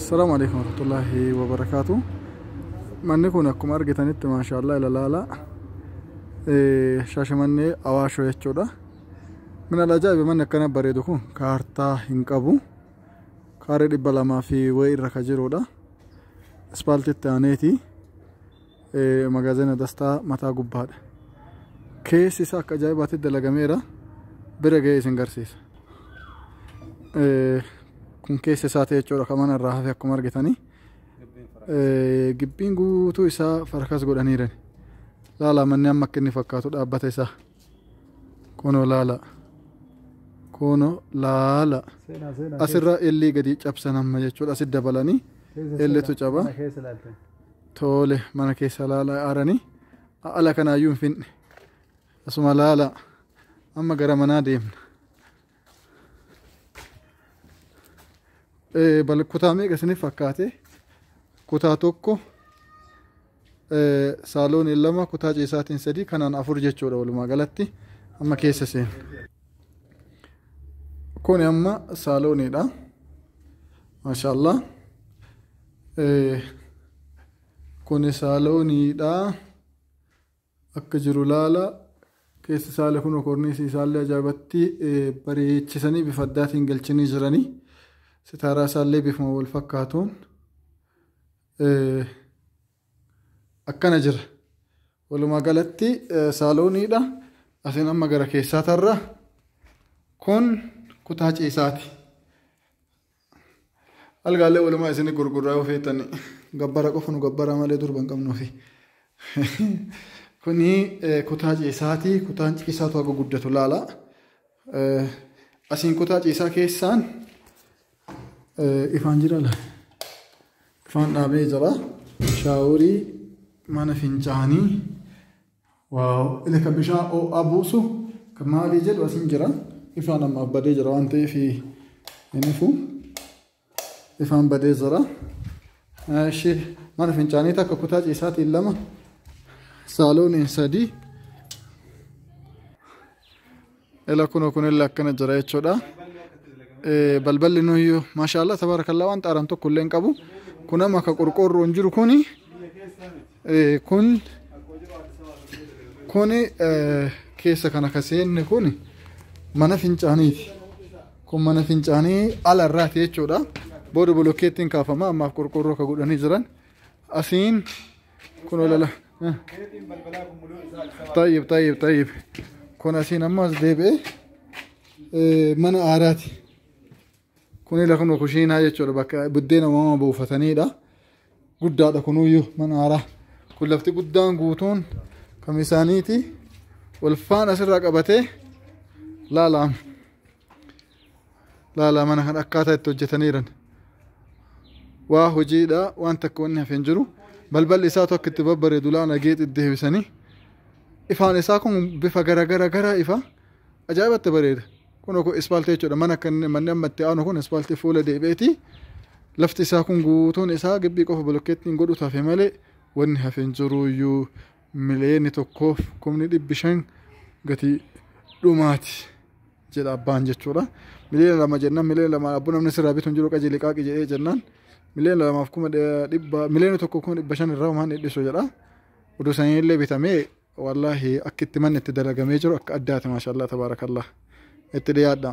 Salaamu alaikum warahmatullahi wabarakaatu. Manni kun akkuma argitanitti maashaallah ilalaala shaashamannee awaashoo jechuudha. Min alajaa'iba manni akkana bareedu kun kaartaa hin qabu. Kaaree dhibba lamaa fi wayii irra ka jirudha. Ispaaltitti aaneeti. Magaazina Dastaa mataa gubbaadha. Keessi isaa akka ajaa'ibaatti dalagameera. Bira ga'ee isin garsiisa. Kun keessa isaati jechuudha kan mana irraa hafe akkuma argitanii. Gibbiin guutuu isaa farkas godhaniiran. Laala manni amma akka inni fakkaatu dhaabbata isaa. Kunoo laala. Kunoo laala. Asirra illee gadi cabsan amma jechuudha. Asi dabalanii illeetu caba. Toole mana keessa laala aaranii ala kanaayyuu hin finne asuma laala amma gara manaa deemna. Eh, Bal kutaa meeqa isiniif fakkaate kutaa tokko eh, saalooniin lama kutaa ciisaatiin sadii kanaan afur jechuudha walumaa galatti amma keessa seena. Kuni amma saalooniidha. Maashaallah. Kuni saalooniidha. Akka jiru laala. Keessi saala kunoo korniisi isaallee ajaa'ibatti bareechisanii bifa addaatiin galchanii jiranii. Sitaaraa isaallee bifuma wal fakkaatuun akkana jira. Walumaa galatti saalooniidha. Asiin amma gara keessaa tarra. Kun kutaa ciisaati. Algaalee walumaa isin gurgurraa yoo feetan gabbara qofa nu gabbara malee durba hin qabnuufi. Kuni kutaa ciisaati. Kutaan ciisaatu haga guddatu laala. Asiin kutaa ciisaa keessaan ifaan jira laala. Ifaan dhaabee jira. Shaaworii mana fincaanii. Waaw ila ka bishaan oo'aa buusu ka maalii jedhu asin jira ifaan ammaaf badee jira waan ta'eef hin ifu ifaan badee jira ishee mana fincaanii takka kutaa ciisaatiin lama saalooniin sadii Ela kuno kunille akkana jira jechuudha. Eh, Balballi nuyyuu maashaallah tabaarakallaa waan xaaran tokko illee hin qabu. Kun amma akka qorqoorroon jiru kuni eh, kun kuni eh, keessa kana ka seenne kuni mana fincaaniiti. Kun mana fincaanii ala irraati jechuudha. Booda bolokkeettiin kaafama ammaaf qorqoorroo ka godhanii jiran. asiin kun olala tayyib tayyib tayyib kun asiin amma as deebi'ee mana aaraati kun ila kun kushiinaa jechuudha bakka buddeena uumama buufataniidha guddaadha kunuyyuu mana aaraa kun lafti guddaan guutuun kam isaaniiti walfaan asirraa qabatee laalaam laalaa mana kan akkaataa itti hojjetaniiran waa hojiidha waan takka wanni hafe hin jiru balballi isaa tokko itti babbareedu laana geexi deebisanii ifaan isaa kun bifa gara gara gara ifa ajaa'ibatti bareeda kun kun ispaaltii jechuudha mana kan manni amma itti aanu kun ispaaltii fuula deebi'eeti lafti isaa kun guutuun isaa gibbii qofa bolokkeettiin godhu tafe malee wanni hafe hin jiru iyyuu miliyoonni tokkoof kumni dhibbi shan gatii dhumaati. jedha abbaan jechuudha. Miliyoona lama jennaan miliyoona lama abboo namni sirraa bitu hin jiru qaji liqaaqi jedhee jennaan miliyoona lamaaf kuma dhibba miliyoona tokko kuma dhibba shan irraa homaan dhidhisu jedha. Oduu sanii illee bitamee wallaahi akka itti manni itti dalagamee jiru akka addaati maashaallah tabaarakallah itti dhiyaadha.